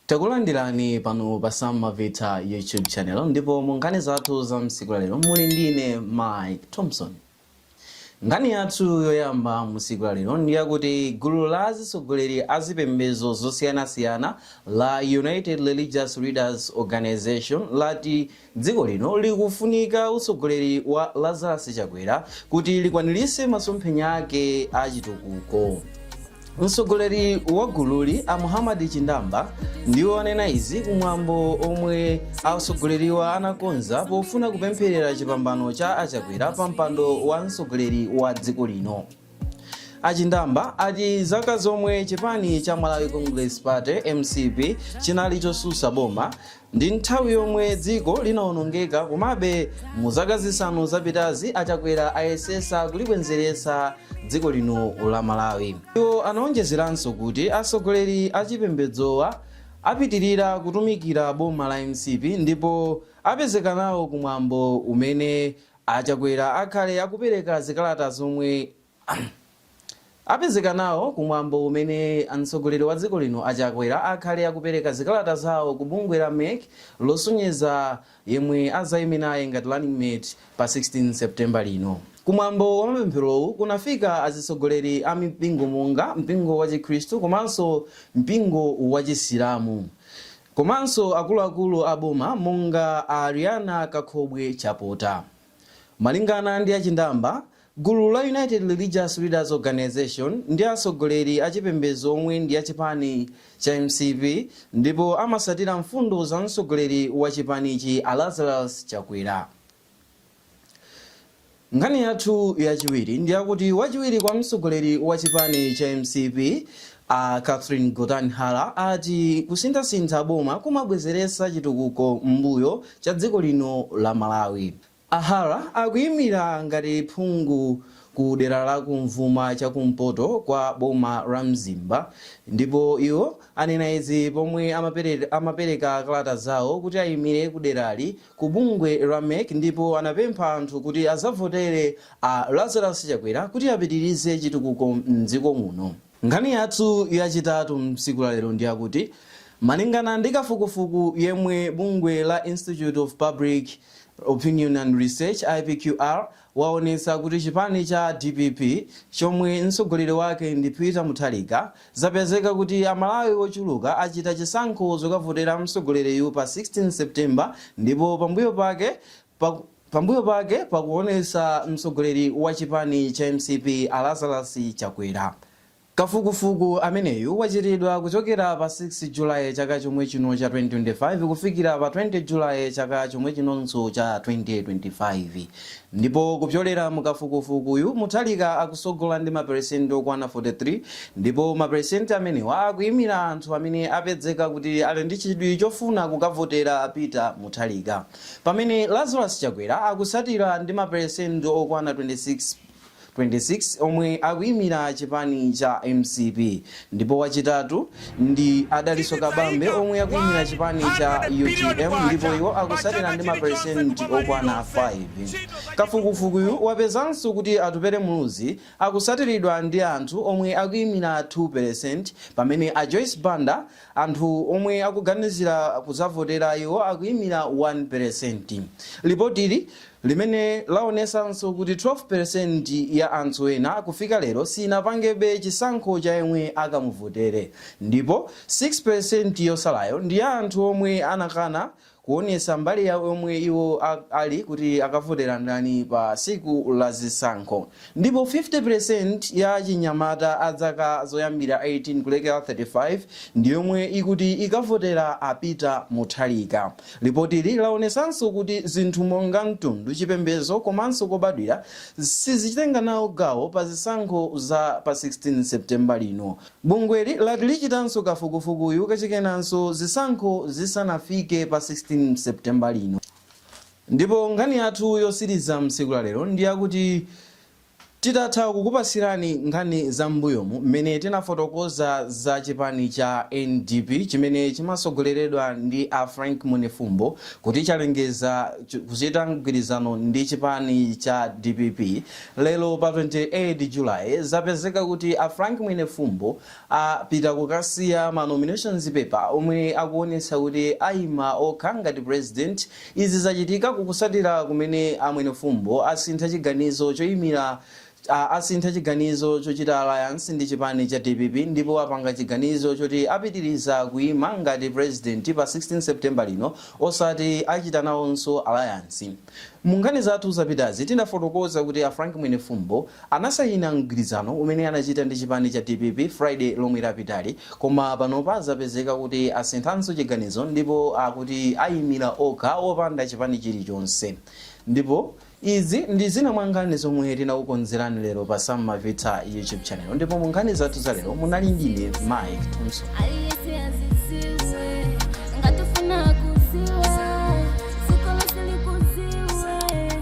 Takulandirani pano pa Samavita YouTube channel ndipo mu nkhani zathu za msiku la lero muli ndi ine Mike Thompson. Nkhani yathu yoyamba msiku la lero ndi yakuti gulu la azitsogoleri a zipembedzo zosiyanasiyana la United Religious Leaders Organization lati Dziko lino likufunika utsogoleri wa Lazarus Chakwera kuti likwanirise masomphenya ake a chitukuko. Mtsogoleri wa gululi a Muhammad Chindamba ndiwo anena izi kumwambo omwe atsogoleriwa anakonza pofuna kupempherera chipambano cha a Chakwera pa mpando wa mtsogoleri wa dziko lino. achindamba ati zaka zomwe chipani cha malawi congress party mcp chinali chosusa boma ndi nthawi yomwe dziko linawonongeka komabe mu zaka zisanu zapitazi achakwera ayesesa kulibwenzeretsa dziko lino la malawi iwo anaonjezeranso kuti atsogoleri achipembedzowa apitirira kutumikira boma la mcp ndipo apezeka nawo kumwambo umene A Chakwera akhale akupereka zikalata zomwe apezeka nawo ku mwambo umene mtsogoleri wa dziko lino a Chakwera akhale akupereka zikalata zawo ku bungwe la mec losonyeza yemwe azayime naye ngati running mate pa 16 September lino. Ku mwambo wa mapempherowu kunafika azitsogoleri a mipingo monga mpingo wa chikhristu komanso mpingo wa chisilamu. Komanso akuluakulu a boma monga a Ariana Kakhobwe Chapota. Malingana ndi a Chindamba, gulu la United Religious Leaders Organisation ndi atsogoleri a chipembedzo omwe ndi a chipani cha mcp ndipo amasatira mfundo za mtsogoleri wa chipanichi a Lazarus Chakwera. Nkhani yathu yachiwiri ndi yakuti wachiwiri kwa mtsogoleri wa chipani cha mcp a Catherine Gotani Hara ati kusinthasintha boma kumabwezeretsa chitukuko m'mbuyo cha dziko lino la Malawi. A Hara akuyimira ngati phungu ku dera la kumvuma cha kumpoto kwa boma la Mzimba ndipo iwo anena izi pomwe amapereka kalata zawo kuti ayimire ku derali ku bungwe la mec ndipo anapempha anthu kuti azavotere a Lazarus Chakwera kuti apitirize chitukuko m'dziko muno. Nkhani yathu yachitatu msiku la lero ndiyakuti malingana ndi kafukufuku yemwe bungwe la Institute of Public Opinion and Research, IPQR, waonetsa kuti chipani cha dpp chomwe mtsogoleri wake ndi Peter Mutharika zapezeka kuti a Malawi ochuluka achita chisankho zokavotera mtsogoleriyu pa 16 September ndipo pambuyo pake pakuonetsa mtsogoleri wa chipani cha mcp a Lazarus Chakwera Kafukufuku ameneyu wachitidwa kuchokera pa 6 July chaka chomwe chino cha 2025 kufikira pa 20 July chaka chomwe chinonso cha 2025 ndipo kupyolera mu kafukufukuyu Mutharika akusogola ndi maperesenti okwana 43 ndipo maperesenti amenewa akuyimira anthu amene apezeka kuti ali ndi chidwi chofuna kukavotera Peter Mutharika pamene Lazarus Chakwera akusatira ndi maperesenti okwana 26 26 omwe akuyimira chipani cha mcp ndipo wachitatu ndi a Dalitso Kabambe omwe akuyimira chipani cha utm ndipo iwo akusatira ndi maperesenti okwana 5. Kafukufukuyu wapezanso kuti Atupele Muluzi akusatiridwa ndi anthu omwe akuyimira 2% pamene a Joyce Banda anthu omwe akuganizira kuzavotera iwo akuyimira 1%. Lipotili limene laonesanso kuti 12 peresenti ya anthu ena kufika lero sinapangebe chisankho cha yemwe akamuvotere ndipo 6 peresenti yosalayo ndi ya anthu omwe anakana kuonesa mbali yawo yomwe iwo ali kuti akavotera ndani pa tsiku la zisankho. Ndipo 50 peresenti ya achinyamata a zaka zoyambira 18 kulekera 35 ndi yomwe ikuti ikavotera a Peter Mutharika. Lipotili laonesanso kuti zinthu monga mtundu, chipembedzo komanso kobadwira sizichitenga nawo gawo pa zisankho za pa 16 September lino. Bungweli lati lichitanso kafukufukuyu kachikenanso zisankho zisanafike pa 16 September lino. Ndipo nkhani yathu yosiriza msiku la lero ndi yakuti Titatha kukupasirani nkhani za m'mbuyomu m'mene tinafotokoza za chipani cha NDP chimene chimasogoleredwa ndi a Frank Mwenefumbo kuti chalengeza kuchita mgwirizano ndi chipani cha dpp lero pa 28 July zapezeka kuti a Frank Mwenefumbo apita kukasiya ma nominations paper omwe akuonesa kuti ayima okha ngati president Izi zachitika kukusatira kumene a Mwenefumbo asintha chiganizo choyimira asintha chiganizo chochita alliance ndi chipani cha dpp ndipo apanga chiganizo choti apitiriza kuyima ngati president pa 16 September lino osati achita nawonso alliance. Munkhani zathu zapitazi tinafotokoza kuti a Frank Mwenefumbo, Anasayina mgwirizano umene anachita ndi chipani cha dpp Friday lomwe lapitali koma panopa zapezeka kuti asinthanso chiganizo ndipo akuti ayimira okha opanda chipani chilichonse ndipo Izi ndi zina mwa nkhani zomwe tinakukonzerani lero pa Sam Mavitsa YouTube channel ndipo mu nkhani zathu za lero munali ndine Mike Thompson. Aliyense aziziwe, ngati ufuna kuziwa, dziko lonse likuziwe.